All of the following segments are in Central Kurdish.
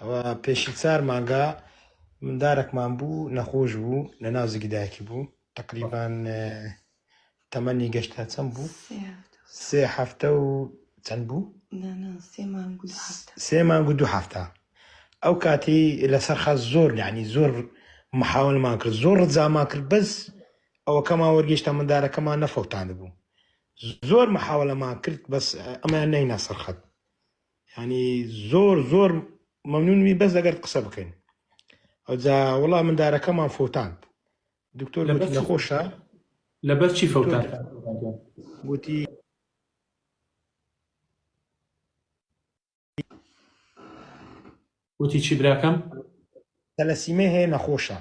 ئەوە پێشی چار مانگە مندارەکمان بوو نەخۆش بوو لە ناو زگی دایکی بوو تقریبان تەمەنی گەشتا چەند بوو سێ هەفتە و چەند بوو سێ مانگ و دوو هەفتە ئەو کاتی لەسەر خەز زۆر یعنی زۆر محاولمان کرد زۆر ڕزامان کرد بەس ئەوەکەمان وەرگشتە مندارەکەمان نەفەوتان بوو زۆر محاولەمان کرد بەس ئەمە نەینە سەرخەت یانی زۆر زۆر مەمنون بین بەس لەگەرت قسە بکەین ئەوجا وڵا مندارەکەمان فوتاند دکتۆر گوتی نەخۆشە لەبەر چی فوتان گوتی وتی چی براکەم تەلەسیمە هەیە نەخۆشە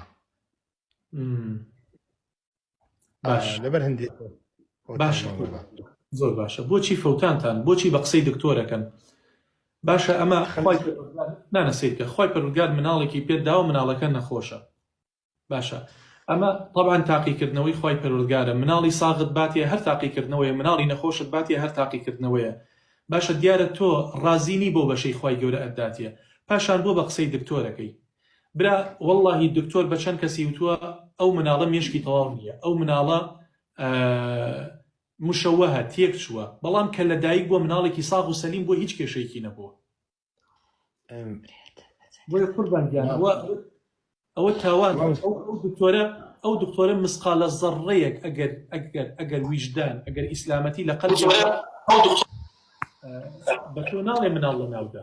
باش لەبەر هەندێک باش زۆر باشە بۆچی فەوتانتان بۆچی بە قسەی دکتۆرەکەن باشە ئەمە نانە سیرکە خۆی پەرگار مناڵێکی پێ داو مناڵەکە نەخۆشە باشە ئەمە طبعاان تاقیکردنەوەی خی پەرۆزگارە مناڵی ساغت باتی هەر تاقیکردنەوەی مناڵی نەخۆشت باتی هەر تاقیکردنەوەیە باشە دیارە تۆ ڕازینی بۆ بەشەی خی گەورە ئەداتە پاشان بۆ بە قسەی دکتۆرەکەی برا وەڵاهی دکتۆر بە چەند کەسی وتووە ئەو مناڵە مێشکی تەواو نییە ئەو مناڵە مشەوەهە تێک چووە بەڵام کە لە دایک بۆ مناڵێکی ساغ و سەلیم بۆ هیچ کێشەیەکی نەبووە بۆی قوربان گیانەوە ئەوە تاوان دکتۆرە ئەو دکتۆرە مسقالە زەڕەیەک ئەگەر ئەگەر ئەگەر ویژدان ئەگەر ئیسلامەتی لە قەل بە تۆ ناڵێ مناڵ لە ناودا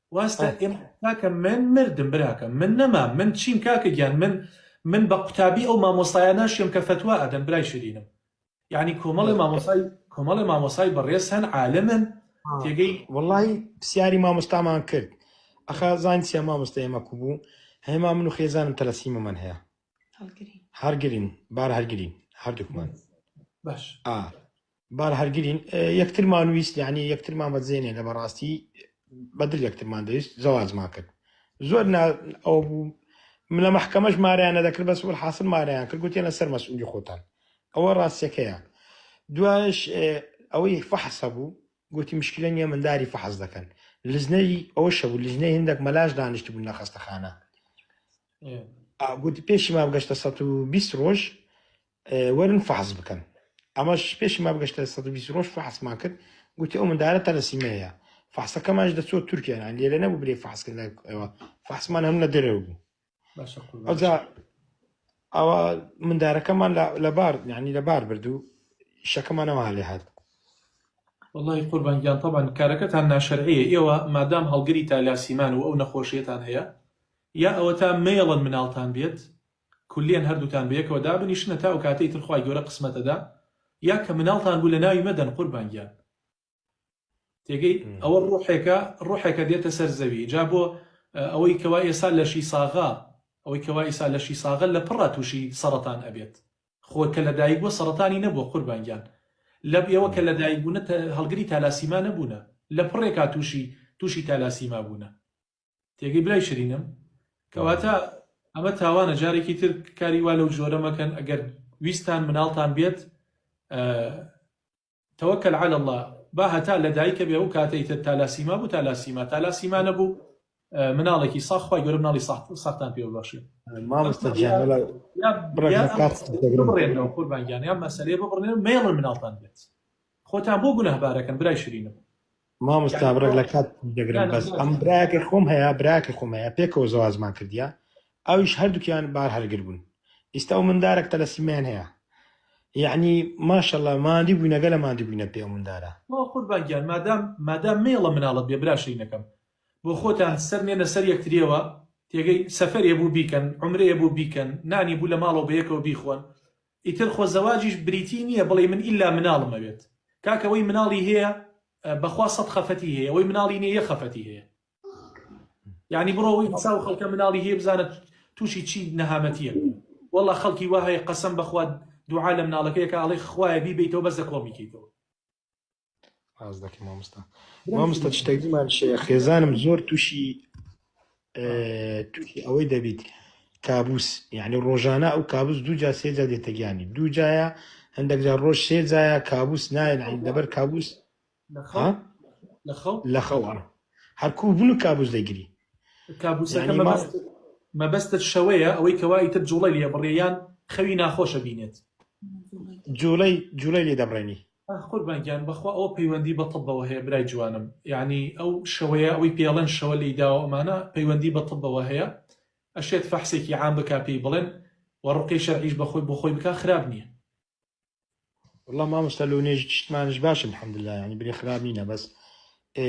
واستە ئێ کاکە من مردم براکەم من نەمام من چیم کاکە گیان من من بە قوتابی ئەو مامۆسایە ناشێم کە فتووا ئەدەن برای شرینم یعنی کۆمەڵی مامۆسای کۆمەڵی مامۆسای بەڕێز هەن عالمن تێگەی وڵی پرسیاری مامۆستامان کرد ئەخا زانین سیا مامۆستا ئێمە کو بوو هەما من و خێزانم تەلەسیمە من هەیە هەرگرین بار هەرگرین هەردووکمان باش ئا بارە هەرگرین یەکترمان ویست یعنی یەکترمان بەدزێنێ لە بەڕاستی بەدل یەکترمان دەویست زەواجمان کرد زۆر ئەو بوو من لە محکەمەش ماریانە دەکرد بەس وەل حاصل ماریان کرد گوتێن لەسەر مەسئولی خۆتان ئەوە ڕاستەکەیە دوایش ئەوەی فەحس هەبوو گوتی مشکلە نیە منداری فەحز دەکەن لزنەی ئەوە شەبوو لزنەی هندێک مەلاش دانیشت بوون لە خەستەخانە گوتی پێشی ما بگەشتە 120 ڕۆژ وەرن فەحس بکەن ئەمەش پێشی ما بگەشتە سەد و بیست ڕۆژ فەحسمان کرد گوتی ئەو مندارە تەلەسیمەیە فەحسەکەمانش دەچۆ تورکیان لێرە نەبوو برێ فەحسکرد لای ئەوە فەحسمان هەم لە دەرەوە بوو ئەوجا ئەوە مندارەکەمان لە بار یعنی لە بار برد و شەکەمانەوە هەلێ هات وڵی قوربانگیان تەبان کارەکەتان ناشرەیە ئێوە مادام هەڵگری تالاسیمان و ئەو نەخۆشیێتان هەیە یا ئەوە تا مێڵن مناڵتان بێت کولێن هەردووتان بەیەکەوە دابنیشنە تا ئەوکاتەی تر خوای گەورە قسمەت ئەدا یا کە مناڵتان بوو لەناوی مەدەن قوربان گیان تێگەی ئەوە ڕوحێکە ڕوحێکە دێتە سەر زەوی جا بۆ ئەوەی کەوا ئێسا لەشی ساغە ئەوەی کەوا ئیسا لەشی ساغە لە پڕا تووشی سەڕەتان ئەبێت خۆ کە لەدایک بووە سەڕەتانی نەبووە قوربان گیان لە ئێوە کە لەدایک بوونە هەڵگری تالاسیما نەبوونە لە پڕێکا تووشی تووشی تالاسیما بوونە تێگەی برای شرینم کەواتە ئەمە تاوانە جارێکی تر کاری وا لەو جۆرە مەکەن ئەگەر ویستان مناڵتان بێت تەوەکەل على الله با هەتا لە دایکە بێ و کاتەی تر تالاسیما بوو تالاسیما تالاسیما نەبوو مناڵێکی ساخوای گەورە مناڵی ساختان پێ بەخشێ قوربانگیان یا مەسلەیە ببڕێن مێڵن مناڵتان بێت خۆتان بۆ گونەهبارەکەن برای شرینم مامۆستا بڕێک لە کات دەگرم بەس ئەم براکە خۆم هەیە براکە خۆم هەیە پێکەوە زەوازمان کردیا ئەویش هەردووکیان بار هەرگر بوون ئیستا و مندارێک تەلەسیمیان هەیە یعنی ماشەڵە مادی بووی نەگەلە مادی بووینە پێ مندارە قوربانگیان مادام مادام مێڵە مناڵت بێ براشینەکەم بۆ خۆتان سەر نێنە سەر یەکتریەوە تێگەی سەفەرێ بوو بیکەن عمرەیە بوو بیکەن نانی بوو لە ماڵەوە بەیەکەوە بیخۆن ئیتر خۆ زەواجیش بریتی نیە بڵێی من ئیلا مناڵم ئەوێت کاکە وەی مناڵی هەیە بەخوا سەد خەفەتی هەیە وەی مناڵی نیە یەک خەفەتی هەیە یانی بڕۆ وەی حساب خەڵکە مناڵی هەیە بزانە تووشی چی نەهامەتیە واللە خەڵکی وەهەیە قەسەم بەخوا دوعا لە مناڵەکەیەکە ئەڵێ خوایە بیبیتەوە بەس لە کۆڵ میکەیتەوە ڕاست دەکەی مامۆستا مامۆستا شتێک زمان شێ خێزانم زۆر تووشی تووشی ئەوەی دەبیت کابوس یعنی ڕۆژانە ئەو کابوس دوو جا سێجا دێتەگیانی دوو جایە هەندێک جا ڕۆژ سێ جایە کابوس نایە لەبەر کابوس لە خەوە هەرکوو بوون و کابوس دەگری کابوسەکە مەبەستت شەوەیە ئەوەی کەوای تر جوڵی لێ بڕێیان خەوی ناخۆشە بینێت جوڵی جوڵی لێ دەبڕێنی ئاخ قوربان گیان بەخوا ئەوە پەیوەندی بە طبەوە هەیە برای جوانم یانی ئەو شەوەیە ئەوەی پێڵێن شەوە لێی داوە ئەمانە پەیوەندی بە طبەوە هەیە ئەشێت فەحسێکی عام بکا پێی بڵێن و ڕوقی شەرعیش بەخۆی بۆ خۆی بکا خراپ نییە. وەڵا مامۆستا لۆ نێژی چشتمانش باشە الحمدللە یانی بلێ خراپ نینە بەس ئێ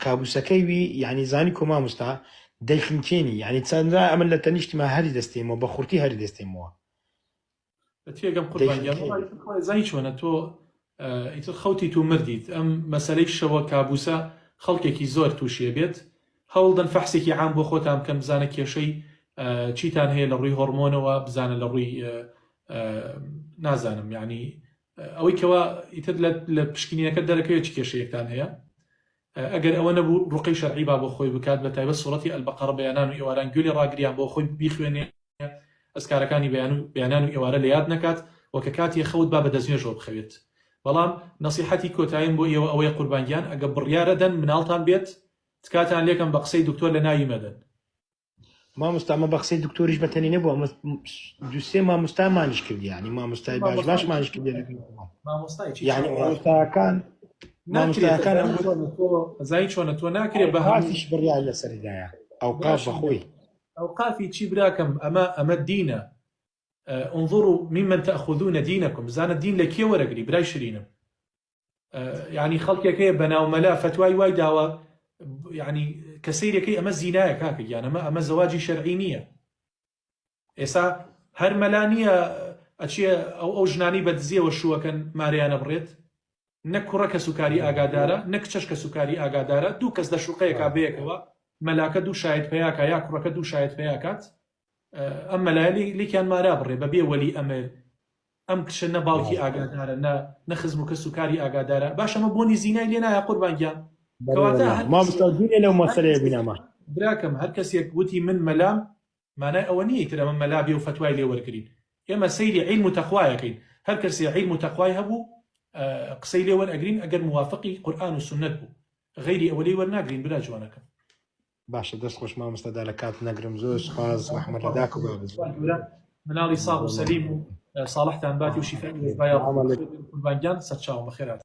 کابوسەکەی وی یانی زانی کۆ مامۆستا دەیخنکێنی یانی چەندرا ئەمن لە تەنیشتما هەری دەستێمەوە بە خورتی هەری دەستێمەوە تێگەم قوربان گیان وڵای خۆی زانی چۆنە تۆ ئیتر خەوتیت و مردیت ئەم مەسلەی شەوە کابوسە خەڵکێکی زۆر تووشێ بێت هەوڵدەن فەحسێکی عام بۆ خۆتان بکەن بزانە کێشەی چیتان هەیە لە ڕووی هۆرمۆنەوە بزانە لە ڕووی نازانم یعنی ئەوەی کەوا ئیتر لە پشکنینەکە دەرەکەوێت چ کێشەیەکتان هەیە ئەگەر ئەوە نەبوو ڕوقەی شەرعی با بۆ خۆی بکات بە تایبەت سوڕەتی ئەلبەقەڕە بەیانان و ئێواران گوێ لێ ڕاگریان بۆ خۆی بیخوێنێ ئەزکارەکانی بەیان و بەیانان و ئێوارە لە یاد نەکات و کە کاتی خەوت با بە دەستنوێژەوە بخەوێت بەڵام نەسیحەتی کۆتاییم بۆ ئێوە ئەوەیە قوربان گیان ئەگە بڕیارە دەن مناڵتان بێت تکاتان لێکەم بە قسەی دکتۆر لە ناوی مەدەن مامۆستا ئەمە بە قسەی دکتۆریش بەتەنی نەبوو ئەمە دوسێ مامۆستامانیش کردی ینی مامۆستای باش باشمانش کرد یعنی مامۆستاکان مامۆستاکان زای چۆنە تۆ ناکرێت بە هەمووش بڕیان لەسەردایە ئەو قاش بەخۆی ئەو قافی چی براکەم ئەمە ئەمە دینە انظروا ممن تأخذون دينكم زانە دین لە کێ وەرەگری برای شرینم یعنی خەڵکێک هەیە بەناو مەلا فتوای وای داوە ینی کە سیرەکەی ئەمە زینایە کاکە گیانەمە ئەمە زەواجی شەرعی نییە ئێسا هەر مەلا نییە ئەچێ ئەو ئەو ژنانی بەدزیەوە شووەکەن ماریانە بڕێت نە کوڕە کە سوکاری ئاگادارە نە کچەش کە سوکاری ئاگادارە دوو کەس لە شوقەیەکا بەیەکەوە مەلاکە دوو شاید پیاکە یا کوڕەکە دوو شاید پیاکات ئەم مەلایە لێکیان مارا بڕێ بە بێ وەلی ئەمر ئەم کچە نە باوکی ئاگادارە نە نە خزم و کەس و کاری ئاگادارە باشەمە بۆنی زینای لێ نایە قوربانگیان لەو مەسەرەیە بینەمە براکەم هەر کەسێک وتی من مەلام مانای ئەوە نیە تر ئەمە مەلا بێ و فتوای لێ وەرگین ئێمە سەیری عیلم و تەخوایەکەین هەر کەسێ عیلم و تەخوای هەبوو قسەی لێ وەرئەگرین ئەگەر موافقی قورآن و سنت بوو غیری ئەوەی وەرناگرین برا جوانەکەم باشە دەست خۆش مامۆستا دا لە کات نەگرم زۆر سپاس ڕەحمەت لە داک و بابت مناڵی ساغ و سەلیم و ساڵحتان باتی و شیفای قوربانگیان سەرچاوم بەخێرات